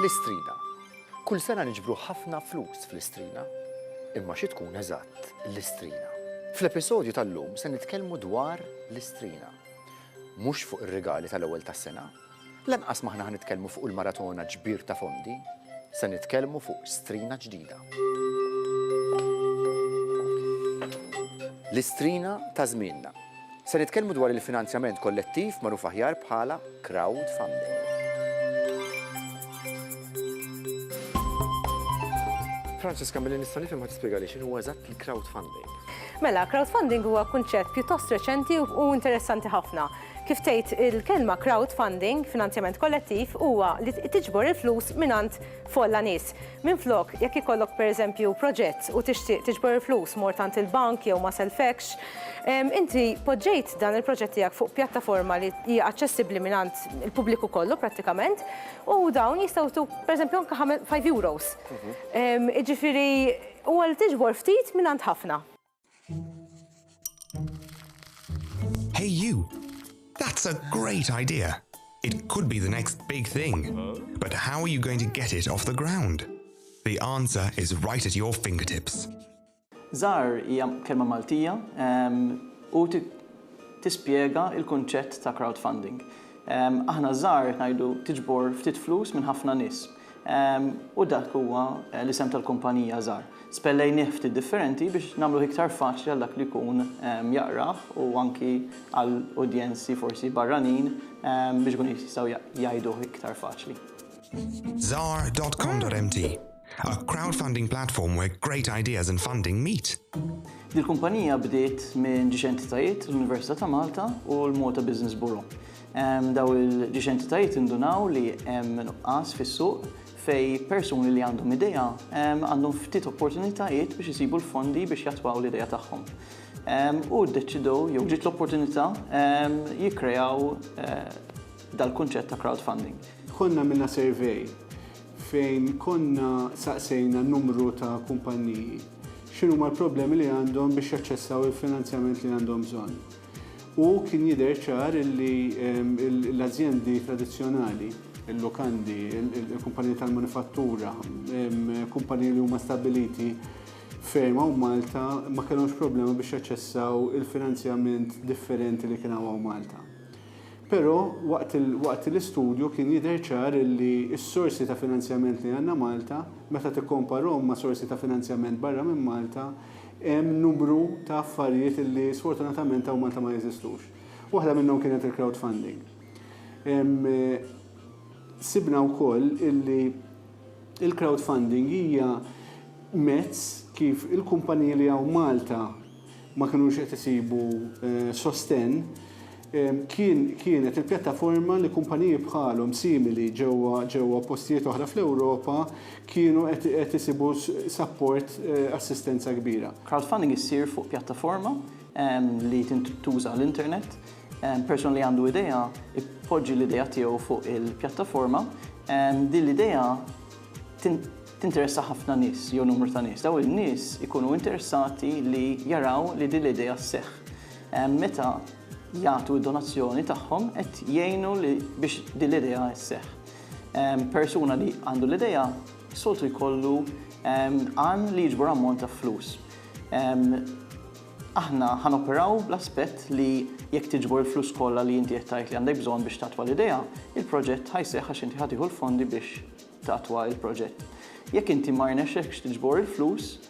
L-Istrina. Kull sena niġbru ħafna flus fl-Istrina. Imma xi tkun eżatt l-Istrina? Fl-episodju tal-lum se nitkellmu dwar l-Istrina. Mhux fuq ir-rigali tal-ewwel tas-sena, Lanqas m'aħna ħa nitkellmu fuq il-maratona ġbir ta' fondi, se nitkellmu fuq strina ġdida. L-istrina ta' żmienna. Se nitkellmu dwar il-finanzjament kollettiv magħruf aħjar bħala crowdfunding. Francesca, milli nista' nifhem ma tispjegali x'inhu huwa eżatt il-crowdfunding. Mela, crowdfunding huwa kunċett pjuttost reċenti u interessanti ħafna. Kif tgħid il-kelma crowdfunding, finanzjament kollettiv, huwa li tiġbor il-flus mingħand folla nies. Minflok, jekk ikollok per eżempju proġett u tixtieq tiġbor il-flus, mort għand il-bank jew ma sellfekx, inti poġġejt dan il-proġett tiegħek fuq pjattaforma li hija aċċessibbli mingħand il-pubbliku kollu prattikament u dawn jistgħu jtuk per eżempju anke five euros. Jiġifieri huwa li tiġbor ftit mingħand ħafna. Hey you, that's a great idea. It could be the next big thing. But how are you going to get it off the ground? The answer is right at your fingertips. Zar hija kelma Maltija u tispjega il-kunċett ta' crowdfunding. Aħna żgħar ngħidu tiġbor ftit flus minn ħafna nies. u dak huwa l-isem tal-kumpanija żgħar. Spellejnieh ftit differenti biex nagħmluh iktar faċli għal dak li jkun jaqrah u anki għal udjenzi forsi barranin biex ikunu jistgħu jgħiduh iktar faċli. Zar.com.mt, A crowdfunding platform where great ideas and funding meet. Dil-kumpanija bdiet minn ġiex entitajiet, l-Università ta' Malta u l-Malta Business Bureau. Dawn il-ġiex entitajiet indunaw li hemm nuqqas fis-suq fejn persuni li għandhom idea għandhom ftit opportunitajiet biex isibu l-fondi biex jattwaw l-idea tagħhom u ddeċidew jew ġiet l-opportunità jikkreaw dal-kunċett ta' crowdfunding. Konna għamilna survey fejn konna saqsejna numru ta' kumpanniji x'inhuma l-problemi li għandhom biex jaċċessaw il-finanzjament li għandhom bżonn. U kien jidher ċar li l-azjendi tradizzjonali, il-lukandi, il-kumpaniji tal-manifattura, kumpaniji li huma stabbiliti ferm hawn Malta ma kellhomx problema biex jaċċessaw il-finanzjament differenti li kien hawn hawn Malta. Però waqt l-istudju kien jidher ċar li s-sorsi ta' finanzjament li għandna Malta, meta tikkomparhom ma' sorsi ta' finanzjament barra minn Malta, Hemm numru ta' affarijiet li sfortunatament hawn Malta ma jeżistux. Waħda minnhom kienet il-crowdfunding. Sibna wkoll illi il-crowdfunding hija mezz kif il-kumpaniji li hawn Malta ma kinux qed isibu sostenn, Kien, kienet il-pjattaforma li kumpaniji bħalhom, simili ġewwa, ġewwa postijiet oħra fl-Ewropa kienu qed, qed isibu sapport, assistenza kbira. Crowdfunding issir fuq pjattaforma li tintuża l-internet. Persuna li għandu idea jpoġġi l-idea tiegħu fuq il-pjattaforma. Din l-idea tin, tinteressa ħafna nies jew numru ta' nies. Dawn in-nies ikunu interessati li jaraw li din l-idea sseħħ. Meta jagħtu d-donazzjoni tagħhom qed jgħinu li biex din l-idea sseħħ. Persuna li għandu l-idea soltu jkollu għan li jiġbor ammont ta' flus. Aħna ħa noperaw bl-aspett li jekk tiġbor il-flus kollha li inti qed tgħid li għandek bżonn biex tattwa l-idea, il-proġett ħa jseħħ għax inti ħa tieħu l-fondi biex tattwa l-proġett. Jekk inti ma rnexxekx tiġbor il-flus,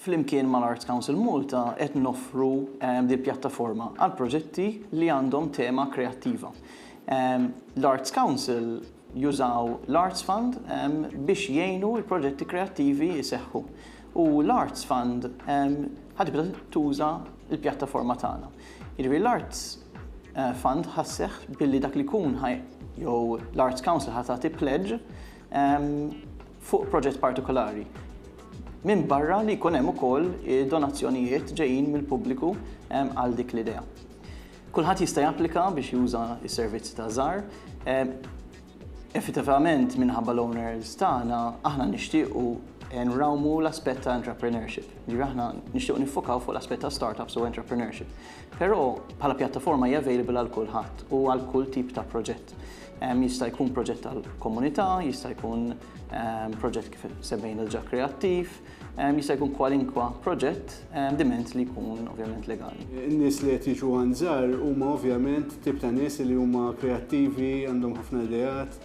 Flimkien mal-Arts Council Malta qed noffru din il-pjattaforma għal proġetti li għandhom tema kreattiva. L-Arts Council jużaw l-Arts Fund biex jgħinu l-proġetti kreattivi jseħħu u l-Arts Fund ħa tibda tuża l-pjattaforma tagħna. Jiġifieri l-Arts Fund ħa sseħħ billi dak li jkun ħa jew l-Arts Council ħa tagħti pledge fuq proġett partikolari. Minbarra li jkun hemm ukoll donazzjonijiet ġejjin mill-pubbliku għal dik l-idea. Kulħadd jista' japplika biex juża s-servizzi ta' Żar. Effettivament minħabba l-owners tagħna aħna nixtiequ nrawmu l-aspett ta' entrepreneurship. Ġifieri aħna nixtiequ niffokaw fuq l-aspett ta' startups u entrepreneurship. Però bħala pjattaforma hija available għal kulħadd u għal kull tip ta' proġett. Jista' jkun proġett tal-komunità, jista' jkun proġett kif semmejna l-ġa kreattiv, jista' jkun kwalinkwa proġett diment li jkun ovvjament legali. In-nies li qed jiġu għand żgħar huma ovvjament tip ta' nies li huma kreattivi, għandhom ħafna ideat,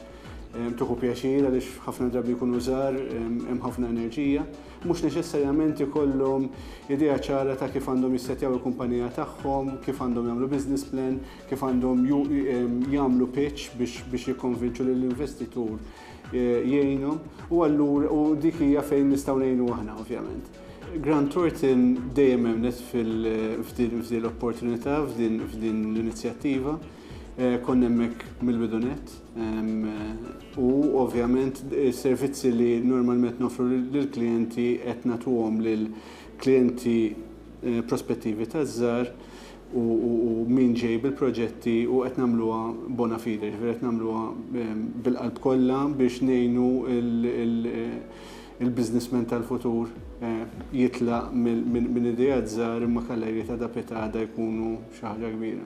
tieħu pjaċir għaliex ħafna drabi jkunu żgħar, hemm ħafna enerġija. Mhux neċessarjament ikollhom idea ċara ta' kif għandhom jissettjaw il-kumpanija tagħhom, kif għandhom jagħmlu business plan, kif għandhom jagħmlu pitch biex jikkonvinċu lill-investitur jgħinhom u allura u dik hija fejn nistgħu ngħinu aħna ovvjament. Grant Thornton dejjem għemlet f'din l-opportunità, f'din l-inizjattiva, eh, konna hemmhekk mill-bidunet u ovvjament is-servizzi li normalment nofru lill-klijenti qed nagħtuhom lill-klijenti eh, prospettivi taż-żar u min ġej bil-proġetti u qed nagħmluha bona fide, jiġifieri qed nagħmluha bil-qalb kollha biex ngħinu l-businessman tal-futur jitlaq minn ideat żgħar imma kalleiri ta' dapitada jkunu xi ħaġa kbira.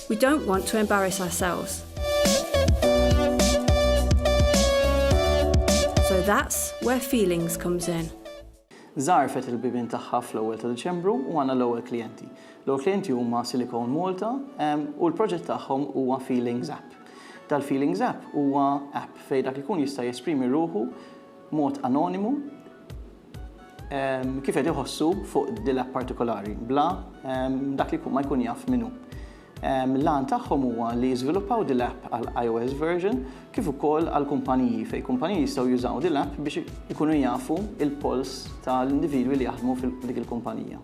We don't want to embarrass ourselves. So that's where feelings comes in. Zarfet il-bibin tagħha fl-ewwel ta' Diċembru u għandna l-ewwel klijenti. L-ewwel klijenti huma Silicon Malta u l-proġett tagħhom huwa Feelings App. Dal-Feelings App huwa app fejn dak ikun jista' jesprimi ruħu mod anonimu kif qed iħossu fuq dila partikolari bla dak li ma jkun jaf min hu. L-għan tagħhom huwa li jiżviluppaw dil-app għal iOS version kif ukoll għal kumpaniji fejn kumpaniji jistgħu jużaw dil-app biex ikunu jafu il-polls tal-individwi li jaħdmu fil-dik il-kumpanija.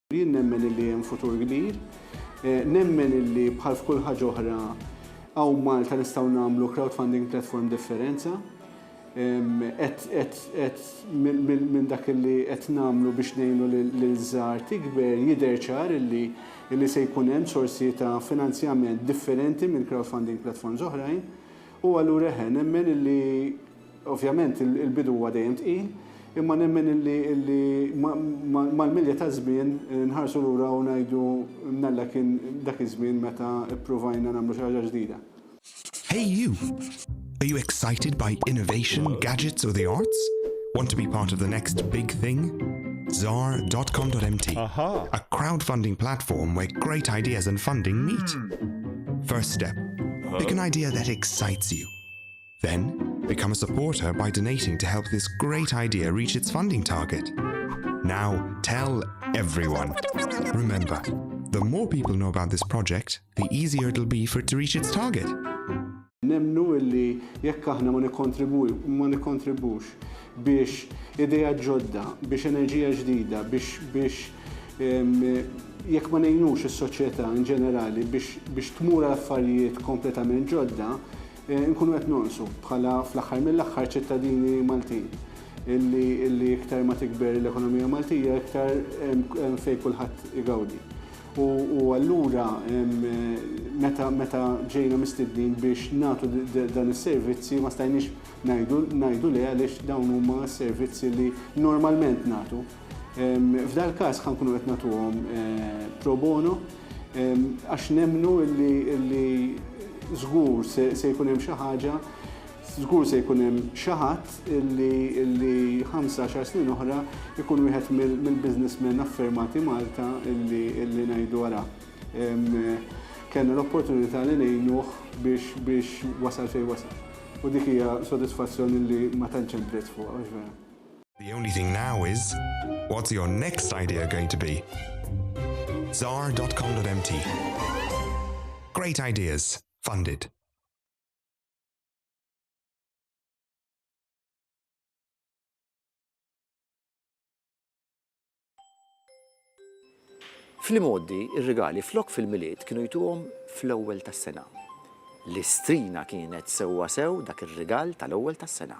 Jien nemmen illi hemm futur kbir. Nemmen illi bħal f'kull ħaġa oħra hawn Malta nistgħu nagħmlu crowdfunding platform differenza. Qed qed minn dak illi qed nagħmlu biex ngħinu lil żgħar tikber jidher ċar illi illi se jkun hemm sorsi ta' finanzjament differenti minn crowdfunding platforms oħrajn. U allura eħe, nemmen illi Ovvjament il-bidu huwa dejjem tqil, imma nemmen illi mal-milja taż-żmien nħarsu lura u ngħidu mnalla kien dak iż-żmien meta ppruvajna nagħmlu xi ħaġa ġdida. Hey you! Are you excited by innovation, gadgets or the arts? Want to be part of the next big thing? Zar dot com dot mt, a crowdfunding platform where great ideas and funding meet. First step, pick an idea that excites you. Then, become a supporter by donating to help this great idea reach its funding target. Now, tell everyone. Remember, the more people know about this project, the easier it'll be for it to reach its target. Nemnu illi jekk aħna ma nikkontribux biex ideja ġodda, biex enerġija ġdida, biex biex jekk ma nejnux is-soċjetà in ġenerali biex tmur affarijiet kompletament ġodda, Inkunu qed nonqsu bħala fl-aħħar mill-aħħar ċittadini Maltin illi iktar ma tikber l-ekonomija Maltija iktar hemm fejn kulħadd igawdi. U allura meta ġejna mistednin biex nagħtu dan is-servizzi ma stajniex ngħidu le għaliex dawn huma s-servizzi li normalment nagħtu. F'dal-każ ħa nkunu qed nagħtuhom pro bono għax nemmnu li żgur se jkun hemm xi ħaġa, żgur se jkun hemm xi ħadd li ħamsa għaxar snin oħra jkun wieħed mill-businessmen affermati Malta li ngħidu ara kellna l-opportunità li ngħinuh biex wasal fejn wasal. U dik hija sodisfazzjon li ma tantx hemm prezz fuqha, mhux vera? The only thing now is, what's your next idea going to be? Zar.com.mt Great ideas, funded. Fl-imoddi, ir-rigali flok fil-milied kienu jtuhom fl-ewwel tas-sena. L-istrina kienet sewwa sew dak ir-rigal tal-ewwel tas-sena.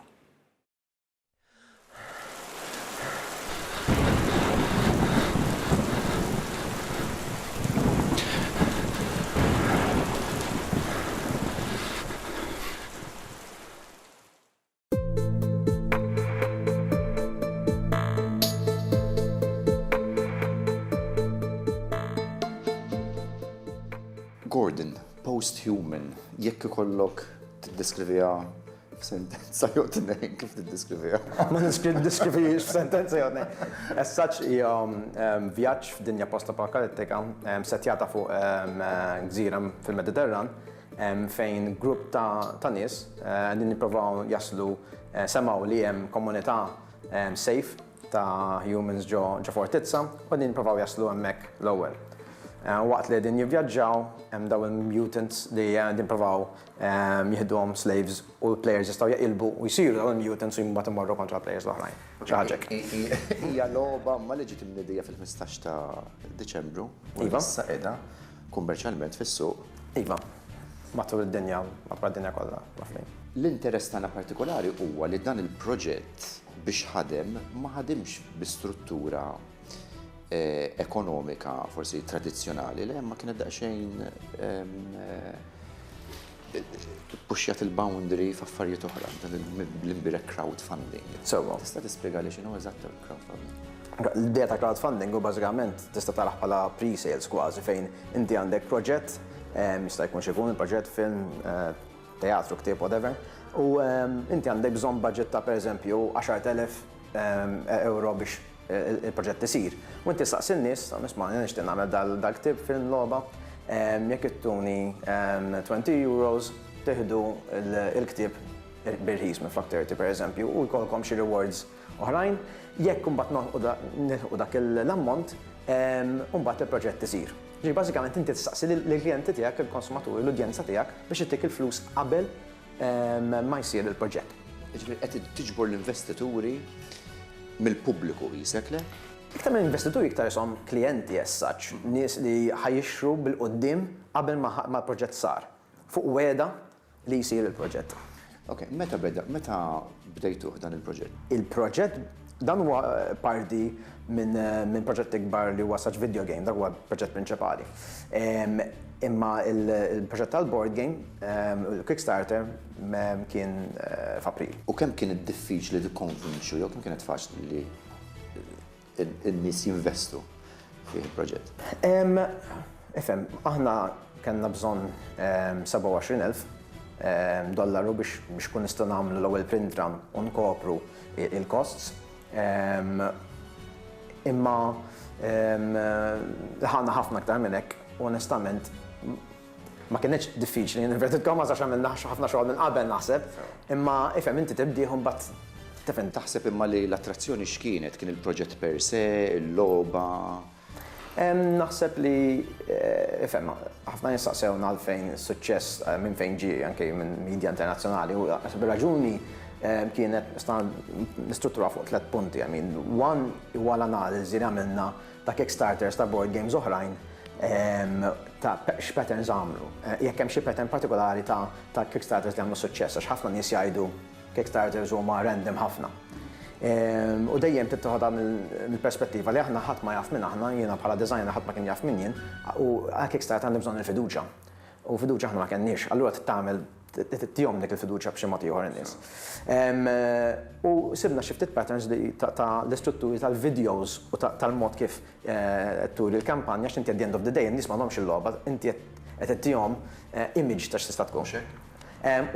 Gordon, post-human, jekk ikollok tiddeskriviha F'sentenza jew tnejn kif tiddeskriviha? Ma niskri diskrivix f'sentenza jew tnejn. As such hija ehm, vjaġġ f'dinja post-apokalittika ehm, setjata fuq ehm, gżira fil-Mediterran ehm, fejn grupp ta', ta nies eh, din nipprovaw jaslu eh, semaw li hemm komunità ehm, safe ta' humans ġo ġo fortizza u din nipprovaw jaslu hemmhekk l-ewwel. Eh, Waqt li din jivvjaġġaw hemm daw il-mutants li eh, din provaw jieħduhom slaves u l-players jistgħu jeqilbu u jsiru dawn il-mutants u mbagħad imorru kontra l-players l-oħrajn. Xi ħaġa hekk. Hija logħba ma li ġiet imniedija fil-ħmistax ta' Diċembru u issa qiegħda kummerċjalment fis-suq. Iva. Matul id-dinja, madwar id-dinja kollha, mafhmin. L-interess tagħna partikolari huwa li dan il-proġett biex ħadem ma ħadimx bi struttura eh, ekonomika forsi tradizzjonali li ma kienet daqsxejn puxjat il-boundary f'affarijiet oħra, l-imbirek crowdfunding. Sewa. Tista' tispjega li x'inhu eżatt il-crowdfunding? L-idea ta' crowdfunding u bażikament tista' taraħ bħala pre-sales kważi fejn inti għandek proġett, jista' jkun xi jkun il-proġett film, eh, teatru, ktieb, whatever, u inti għandek bżonn budget ta' pereżempju 10,000 euro biex il-proġett isir. U inti ssaqsi n-nies, tgħid, isma' jiena nixtieq nagħmel dal-ktieb fil-logħba, jekk ittuni twenty euros tieħdu l-ktieb bir-rħis minflok thirty pereżempju u jkollkom xi rewards oħrajn. Jekk imbagħad nilħqu dak l-ammont, imbagħad il-proġett isir. Ġifieri bażikament inti tistaqsi lill-klijenti tiegħek, il-konsumaturi, l-udjenza tiegħek biex ittik il-flus qabel ma jsir il-proġett. Jiġifieri qed tiġbor l-investituri mill-pubbliku qisek, le? Iktar minn investituri iktar ishom klijenti as such, nies li ħa jixtru bil-quddiem qabel ma l-proġett sar, fuq wegħda li jsir il-proġett. Ok, meta beda, meta bdejtuh dan il-proġett? Il-proġett Dan huwa parti minn proġett ikbar li huwa Such Video Game, dak huwa l-proġett prinċipali. Imma l-proġett tal-board game, il-Kickstarter, kien f'April. U kemm kienet diffiċli tikkonvinċu jew kemm kienet faċli li n-nies jinvestu fih il-proġett. Ifhem, aħna kellna bżonn 27,000 dollaru biex ikun nistgħu nagħmlu l-ewwel print run u nkopru l-costs. Imma ħana ħafna aktar minn hekk u onestament Ma kinitx diffiċli in inverted commas għax għamilna ħafna xogħol minn qabel naħseb, imma ifhem inti tibdih u mbagħad tifhem. Taħseb imma li l-attrazzjoni x'kienet? Kien il-proġett per se, il-logħba? Naħseb li ifhem, ħafna nies staqsewna għalfejn is-suċċess minn fejn ġie anke minn media internazzjonali u naħseb ir-raġuni kienet nistrutturaha fuq tliet punti, I mean, one huwa l-analiżi li għamilna ta' Kickstarters ta' board games oħrajn ta' x'patterns għamlu. Jekk hemm xi pattern partikolari ta' Kickstarters li għamlu suċċess, għax ħafna nies jgħidu Kickstarters huma random ħafna. U dejjem trid toħodha mill-perspettiva li aħna ħadd ma jaf min aħna, jiena bħala designer ħadd ma kien jaf min jien, u għal Kickstarter għandi bżonn il-fiduċja. U fiduċja aħna ma kellniex. Allura trid tagħmel Tihom dik il-fiduċja b'xi mod ieħor in-nies. U sibna xi ftit patterns li ta' l-istrutturi tal-videos u tal-mod kif qed turi l-kampanja għax inti at the end of the day in-nies m'għandhomx il-logħba, inti qed ittihom image ta' x'tista' tkun. Mhux hekk?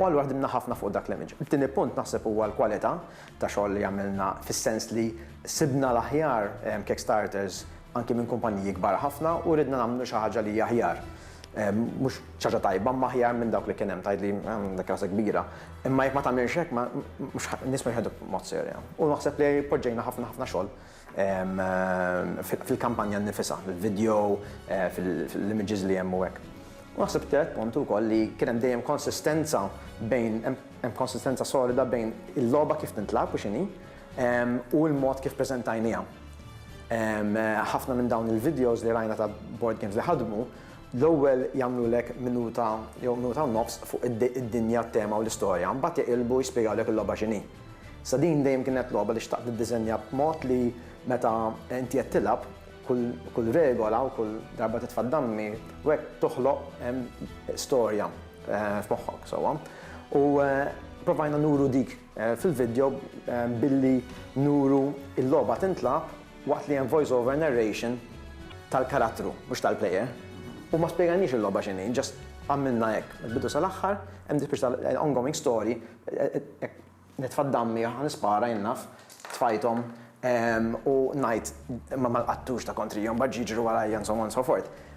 U allura ħdimna ħafna fuq dak l-image. It-tieni punt naħseb huwa l-kwalità ta' xogħol li għamilna fis-sens li sibna l-aħjar kickstarters anki minn kumpaniji kbar ħafna u ridna nagħmlu xi ħaġa li hija aħjar. Mhux. Xi ħaġa tajba, imma aħjar minn dawk li kien hemm. Tgħidli, ehm, dik rasa kbira. Imma jekk ma tagħmilx hekk, ma, mhux ħa, in-nies mhux ħajħduh b'mod serja. U naħseb li poġġejna ħafna, ħafna xogħol, ehm, fil-kampanja nnifisha, fil-video, eh, fil-images li hemm u hekk. U naħseb it-tielet punt hu wkoll li kien hemm dejjem konsistenza bejn, hemm, hemm konsistenza solida bejn il-logħba kif tintlagħab u x'inhi, ehm, u l-mod kif preżentajniha. Ehm, ħafna minn dawn il-videos li rajna ta' board games li ħadmu, L-ewwel jagħmlulek minuta jew minuta u nofs fuq id-dinja, t-tema u l-istorja, mbagħad jaqilbu jispjegawlek il-logħba x'inhi. Sa din dejjem kienet logħba li xtaqt niddiżenja b'mod li meta inti qed tilgħab, kull regola u kull darba titfa' d-dammi u hekk toħloq storja f'moħħok sewwa. U provajna nuru dik fil-vidjo billi nuru l-logħba tintlagħab, waqt li hemm voice over narration tal-karattru, mhux tal-player, u ma spjegalniex il-logħba x'inhi, just għamilna hekk mill-bidu sal-aħħar, hemm din spiċċa ta' ongoing story, hekk nitfa' d-dammi, ħa nispara jien naf, tfajthom, u ngħid imma ma nqattux ta' kontrihom, mbagħad jiġru warajja and so on and so forth.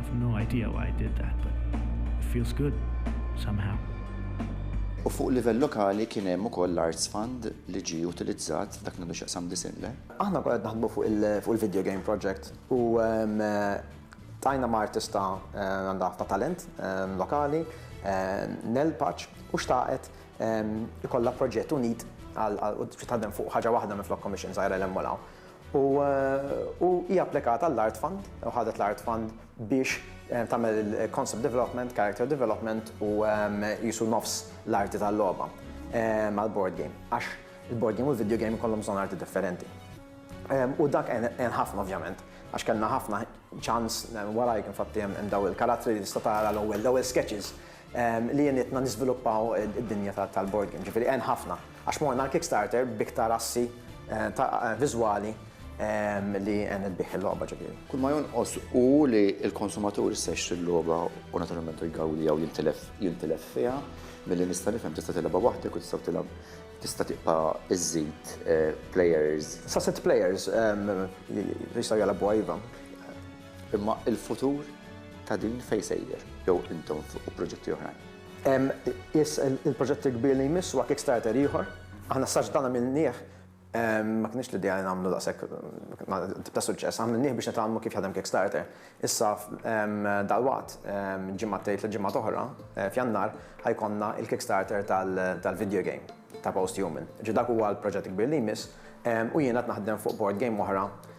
I've no idea why I did that, but it feels good somehow. U fuq livell lokali kien hemm ukoll l-Arts Fund li ġie utilizzat f'dak li għandu x'jaqsam disinn le. Aħna konna qed naħdmu fuq il-video game project u ltqajna ma' artista għandha ħafna talent lokali, Nell Paċ, u xtaqet ikollha proġett unit għal u trid taħdem fuq ħaġa waħda minflok commission żgħira 'l hemm u 'l hawn. U hi applikat għall-Art Fund, u ħadet l-Art Fund biex tagħmel il-concept development, character development u qisu nofs l-arti tal-logħba mal-board game. Għax il-board game u l-video game ikollhom bżonn arti differenti. U dak għen ħafna ovvjament, għax kellna ħafna ċans, warajk infatti hemm dawn il-karattri li tista' tara l-ewwel sketches li għenitna niżviluppaw id-dinja tal-board game. Ġifieri għen ħafna għax morna għall-Kickstarter b'iktar assi viżwali li għenet bih il-logħba ġifieri. Kull ma jonqos hu li l-konsumatur issa jixtri l-logħba u naturalment igawdiha u jintilef fiha. Milli nista' nifhem tista' tilgħabha waħdek u tistgħu tilgħab tista' tibqa' iżżid players. Sa sitt players jistgħu jilgħabuha iva. Imma il-futur ta' din fejn sejjer? Jew intom fuq proġetti oħrajn? Yes, il-proġett il-kbir li jmiss huwa Kickstarter ieħor. Aħna s-saġġ tagħna għamilnieh, ma kinitx l-idea li nagħmlu daqshekk tip ta' suċċess, għamilnieh biex nitgħallmu kif jaħdem Kickstarter. Issa dalwaqt, ġimgħatej, tliet ġimgħat oħra, f'Jannar, ħa jkollna l-Kickstarter tal-video game ta' Posthuman. Ġifieri dak huwa l-proġett il-kbir li jmiss u jiena qed naħdem fuq board game oħra